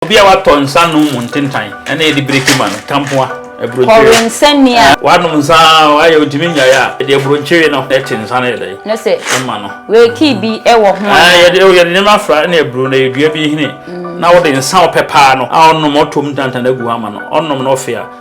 Obi a watɔ nsa nom mu ntentan ɛna yɛde bireki ma no, tampoa, aburokyire. Kɔwe nsa ni a. Wanom nsa a ayɛ ɔntumi nnyae a, yɛde aburokyire no ɛte nsa no yɛ dɛn? No se. Ɛma no. Weeki bi ɛwɔ ho anaa? Ɛɛ yɛde yɛde nneɛma afra ɛna aburo no, ɛyɛ dua bi nhini na wode nsa a ɔpɛ paa no a ɔnom ɔtɔ mu tantan agu hɔ ama no, ɔnom na ɔfe a.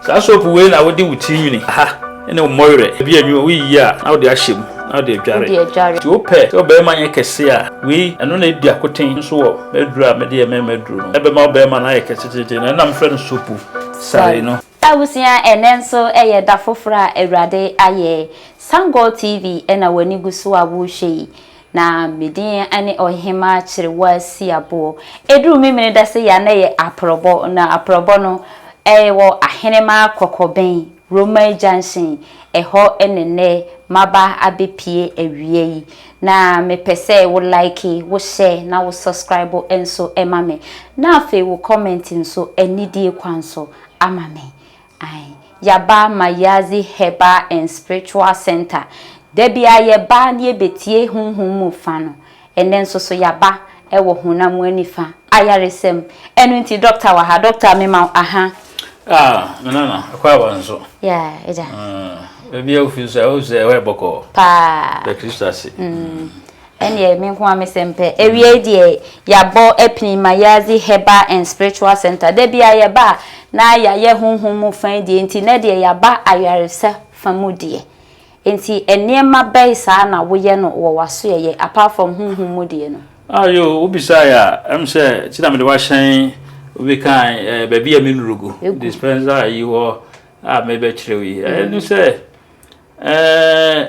Saa soap wei na wode wo ti nwini, ha ne wo mmɔwerɛ, ebi a nwi, woyiyi a na wode ahyɛ mu na wode adware. Nti wopɛ sɛ wo barima nyɛ kɛse a, wei, ɛno na edi akoten nso wɔ m'aduro a mede yɛ mmarima aduro no. Ɛbɛma wo barima no ayɛ kɛse tete no, ɛna mefrɛ no soap sare no. Abusua, ɛnnɛ nso yɛ da foforɔ a Awurade ayɛ. Sangor TV na w'ani gu so a worehwɛ yi. Na medin ne Ɔhemaa Kyerewasiaboɔ. Ɛduru Memene da sɛ yɛ a na ɛyɛ Aprɔbɔ, na Aprɔbɔ no ɛwɔ Ahenemaa Kɔkɔbɛn, Romai Junction, ɛhɔ ne nnɛ maba abɛpie awia yi. Na mepɛ sɛ wo like, wo share na wo subscribe nso ma me. Na afei wo comment nso anidie kwan so ama me. Ae yɛaba Mayazi Herbal and Spiritual Center. Da biara yɛba na yɛbɛtie honhom mu fa no. Ɛnnɛ nso so yɛaba wɔ honam mu anifa ayaresa mu. Ɛno nti dɔkta wɔ ha. Dɔkta mema wo aha. Ah, me nana, ɛkɔ aba nso. Yeah, agya. Ah, baabi a wofi nso a, wohu sɛ ɛhɔ yɛ bɔkɔɔ. Paa. Bɛ Kristo ase. Mm. Ɛnneɛ me nko ara me sɛm pɛ. Awiei deɛ, yɛabɔ apini ma Yaadzi Herbal and Spiritual Centre. Da biara yɛba a, na yɛayɛ honhom mu fa yi deɛ nti, nnɛ deɛ yɛaba ayaresa fa mu deɛ. Enti nneɛma bɛn saa na woyɛ no wɔ w'asoɛeɛ, apart from honhom mu deɛ no? Ah yo, wobisaeɛ a, ɛm sɛ nti na mede wo ahyɛn bi kan eh, baabi a menuru gu, dispenser yi hɔ a merebɛkyerɛ wo yi. Ɛno sɛ eh,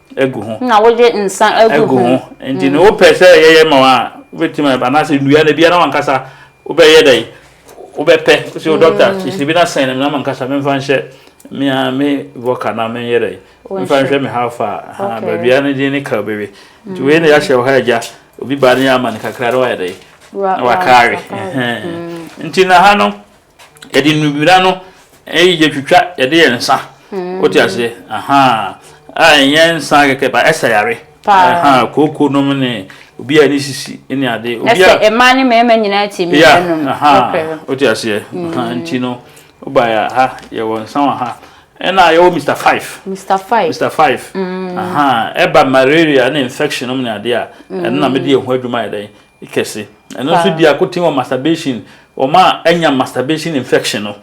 agu ho. Na wogye nsa agu ho. ho. Nti mm. ne wopɛ sɛ yɛyɛ ma wa wobɛtumi anaasɛ nnua na biara wankasa wobɛyɛ dɛn wobɛpɛ sɛ wo dɔkta mm. sisi bi na sɛn no menam ankasa memfa nhyɛ mea me voka na menyɛ dɛn memfa nhwɛ me ha fa baabia no din ne ka wobɛwe nti wei na yɛahyɛ wo ha agya obi baa ne yɛ ama no kakra na wayɛ dɛn na wakaawe mm. nti na ha no yɛde nnubira no yɛ twitwa yɛde yɛ nsa hmm. wote aseɛ aha a ɛnyɛ nsa kɛkɛ ba ɛsɛ yare aha kooko nom ne obi a ne sisi ne ade obi a ɛsɛ mmaa ne mmarima nyinaa ti mi ɛnum aha wote aseɛ aha hmm. nti no woba yɛ ha yɛwɔ nsa wɔ ha ɛna yɛwɔ mr five mr five mr five hmm. aha ɛba malaria ne infection nom ne ade a ɛno na mede yɛ ho adwuma yɛ dɛn Kɛse. Ɛno nso di akoten wɔ masturbation, wɔn a anya masturbation infection no.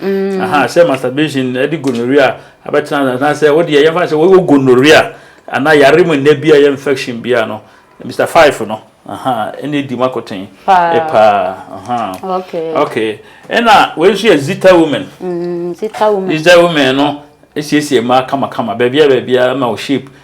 Ahaa, sɛ masturbation de gonorrhea abɛtena ase anaasɛ wo deɛ yɛmfa no sɛ wowɔ gonorrhea anaa yare mu nnɛ bi a ɛyɛ infection bi a no, Mister Five no, ahaa, ɛna edi mu akoten paa, ahaa. Okay. Ɛna wei nso yɛ Zita Women. Zita Women. Zita Women no siesie mmaa kamakama, baabiara baabiara ma wo shape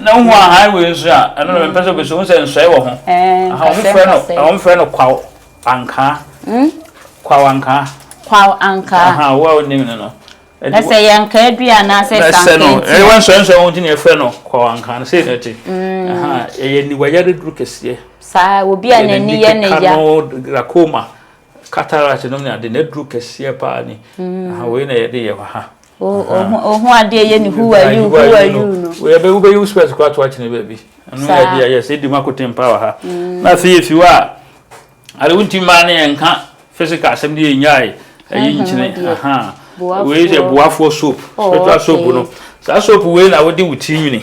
na wohu a highway nso a ɛno na mepɛ sɛ wobɛsi wohu sɛ nsɔe wɔ ho wɔmfrɛ no kwaw ankaa hmm? kwaw ankaa kwaw ankaa wo a wonim no no na sɛ yɛ nka adua anaasɛ sankanti ɛwɔ nsɔensɔe ho nti na yɛfrɛ no kwaw ankaa no sei na ɛte hmm. ɛyɛ niwayɛ de duru kɛseɛ saa obi a n'ani yɛ ne ya glaucoma Cataract nom ne ade na aduru kɛseɛ paa ni aha wei na yɛde yɛ ha. Ohu adeɛ yɛ ne who are you who are you no. Yɛbɛ wobɛyi wo spɛs koraa to akyene baabi. Ɛno yɛ adeɛ yɛ sɛ ɛdi mu akoten paa wɔ ha. Mm. Na afei yɛfi hɔ a ade wonti mmaa ne yɛnka physical asɛm de yɛnyae ɛyi nkyene aha wei yɛ boafoɔ soap oh, spiritual soap no saa soap wei na wode wo ti nwini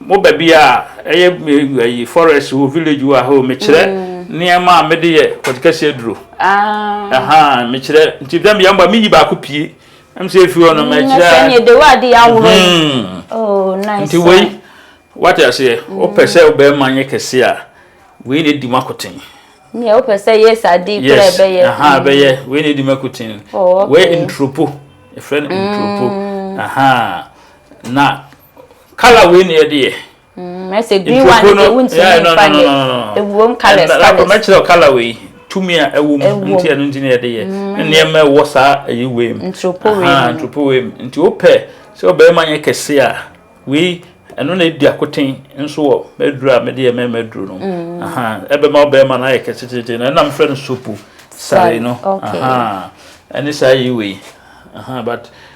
Mo baabi a ɛyɛ ayi forest wo village wo ahɔ me kyerɛ nneɛma a mede yɛ kɔtikɛse aduro ahaa me kyerɛ nti dɛm yɛn ba me yi baako pie ɛm sɛ efi hɔ no mɛ kyerɛ sɛ ne de wa de aworo oh nice nti wei wate aseɛ wopɛ sɛ wobɛrima nyɛ kɛse a wei na edi mu akoten nea wopɛ sɛ yɛ saa di kura ɛbɛyɛ aha ɛbɛyɛ wei na edi mu akoten wei ntropo ɛfrɛ no ntropo aha na Color wei na yɛde yɛ. Mm, ɛsɛ green one no sɛ wontumi mfa ne ɛwom colors colors. Mɛkyerɛ color wei tumi a ɛwom nti ɛno nti na yɛde yɛ. Mm. Nneɛma ɛwɔ saa ɛyi wei mu. Ntropo wei mu. Ntropo wei mu. Nti wopɛ sɛ ɔbɛrima nyɛ kɛse a wei ɛno na ɛdi akoten nso wɔ mɛduro a mɛde yɛ mɛma aduro no. Mm. Ɛbɛma ɔbɛrima no ayɛ kɛse tete na ɛnam frɛ no sopo sare no. Ɛne saa yi wei. But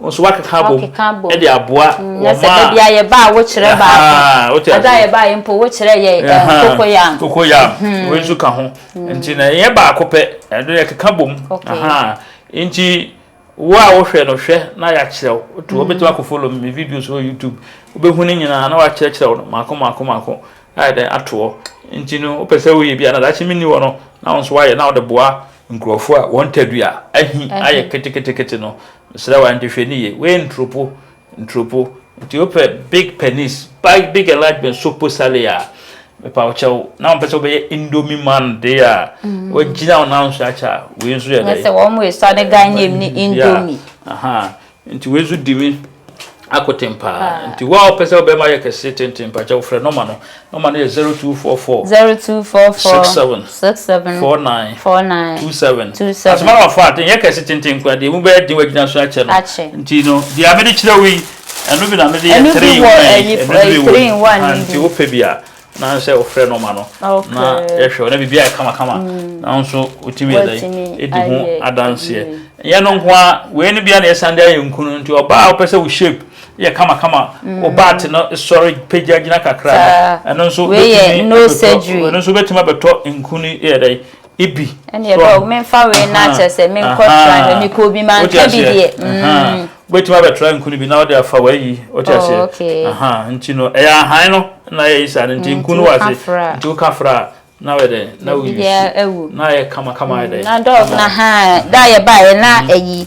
Wo nso woakeka abom Woakeka abom. de aboa wɔn a. Na sɛ da bi a yɛba a, wokyerɛ baako. Ahaa, wote aseɛ. Da a yɛba yɛ mpo, wokyerɛ yɛ ɛɛ Ahaa, kokoyam. kokoyam. Wei nso ka ho. Nti na ɛnyɛ baako pɛ, ɛno yɛkeka bom. Okay. Ahaa. Nti wo a wohwɛ no, hwɛ na yɛakyerɛ wo. Wotu, wobɛtumi akɔ follow me videos wɔ YouTube. Wobɛhu ne nyinaa na wɔakyerɛkyerɛ wo no mmaako mmaako mmaako. ayɛ dɛn ato hɔ nti no wopɛ sɛ woyɛ bi a na daakye menni hɔ no na wo nso woayɛ na wode boa nkurɔfoɔ a wɔn tadua ahi ayɛ keteketekete no mesrɛ wa nti hwɛ ne ye wei nturopo nturopo nti wopɛ big penis big big enlargement sopo sale a mepa wo kyɛw na wɔpɛ sɛ wobɛyɛ indomie man de a mm. wagyina wo nanso akyɛ a wei nso yɛ dɛ sɛ wɔn mo esɔ ne ganyem ne indomie aha Nti wei so di me akoten paa. Nti wo a wopɛ sɛ wo bɛrima yɛ kɛse tenten mpakyɛw frɛ nɔma no. Nɔma no yɛ zero two four four. Zero two four four. Six seven. Six seven. Four nine. Four nine. Two seven. Two seven. Asoma nɔma fa aten yɛ kɛse tenten nko a deɛ emu bɛyɛ den wagyina so akyɛ no. Akyɛ. Nti no deɛ mede kyerɛ wo yi ɛno bi na mede yɛ three in one. Ɛno bi wɔ ɛyi three in one no bi. Nti wopɛ bi a. na sɛ ɔfrɛ nɔma no na yɛhwɛ ɔna biribi ayɛ kamakama nanso ɔtumi yɛ dɛn ɛdi ho adanseɛ yɛ no nko a wei no bia na yɛsan de ayɛ nku no nti ɔbaa a wopɛ sɛ wo shape yɛ kamakama ɔbaate no sɔre pagya gyina kakra ɛno nso ɛno nso wobɛtumi abɛtɔ nku no yɛ dɛn Ibi. Ɛnni ɛbɛ o menfa wei na akyerɛ sɛ menkɔ tra hwɛ mekɔ obi ma nka bi deɛ. Wobɛtumi abɛtra nkunu bi na wode afa w'ayi wote aseɛ nti no ɛyɛ ahan no na ayɛ yi saa no nti nkunu wɔ ase nti woka fra a na wɔyɛ dɛn na woyi na ayɛ kama kama ayɛ dɛn. Na dɔɔso na haa da yɛ baayɛ na ayi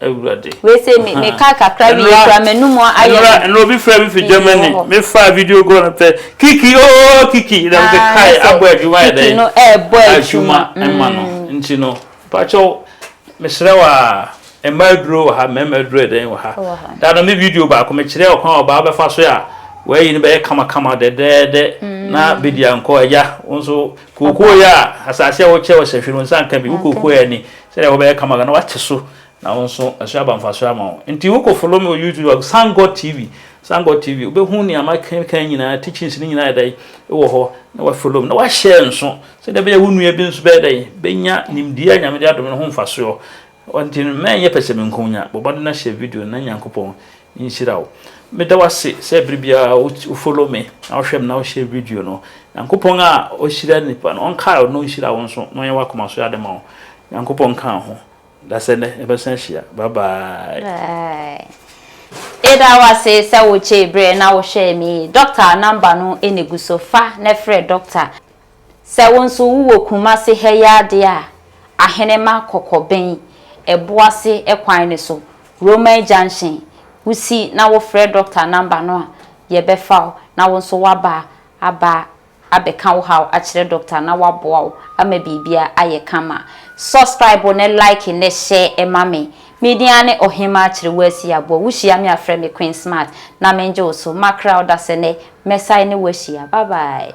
Awurade. Wei se me me ka kakra wie kura m'anum ayɛ. Nnura nnura obi fira bi fi Germany me fa video go na pɛ kiki ooo oh, kiki na me ah, kae abɔ adwuma yɛ dɛ. Kiki no ɛɛbɔ adwuma ɛma no mm. nti no pakyɛw mesrɛ wa mmaa aduro wɔ ha mmarima aduro yɛ dɛn wɔ ha daa na me video baako mekyerɛ ɔkwan ɔbaa bɛfa so a wɔayi no bɛyɛ kamakama dɛdɛɛdɛ na mm. bɛdi ankɔ agya wo nso kookoo yɛ a asase a wokyɛ wɔ sɛhwe no nsa nka bi wo kookoo yɛ ni Sɛdeɛ wobɛyɛ kama na wate so na wo nso ɛso aba mfasoɔ ama wo nti wo kɔ follow me wɔ YouTube a Thank God TV Thank God TV wobɛhu nea makenkan nyinaa teachings no nyinaa ɛdɛn wɔ hɔ na wa follow me na wa share nso sɛdeɛ bɛyɛ wo nua bi nso bɛyɛ dɛn bɛnya nimdeɛ a Nyame de adom no ho mfasoɔ nti mɛnyɛ pɛsɛmenkonya bɔbɔde na hyɛ video na Nyankopɔn nhyira wo. Meda wo ase sɛ bere biara wo wo follow me na wohwɛ me na wo share video no. Nyankopɔn a ɔhyira nipa no ɔnkae wo na ɔnhyira wo nso na ɔnyɛ w'akoma so ade ma wo. Nyankopɔn nka wo ho. Dasɛ nnɛ yɛbɛsan ahyia. Bye bye. Bye. Yɛda wo ase sɛ wo gyee bere na wo hwɛɛ me yi. Doctor number no na egu so. Fa na frɛ Doctor. Sɛ wo nso wo wɔ Kumase ha yi ara deɛ a, Ahenema Kɔkɔbɛn ɛboase kwan no so, Roman Junction, wo si na wo frɛ Doctor number no a, yɛ bɛ fa wo na wo nso waba aba abɛka wo haw akyerɛ Doctor na waboa wo ama biribiara ayɛ kama. Subscribe ne like ne share ma me. Me din ara ne Ɔhemaa Kyerewasi Aboa. Wo hyia me a frɛ me Queen Smart na mengye wo so. Makra ɔdasɛnnɛ mɛsan ne wo ahyia. Bye bye.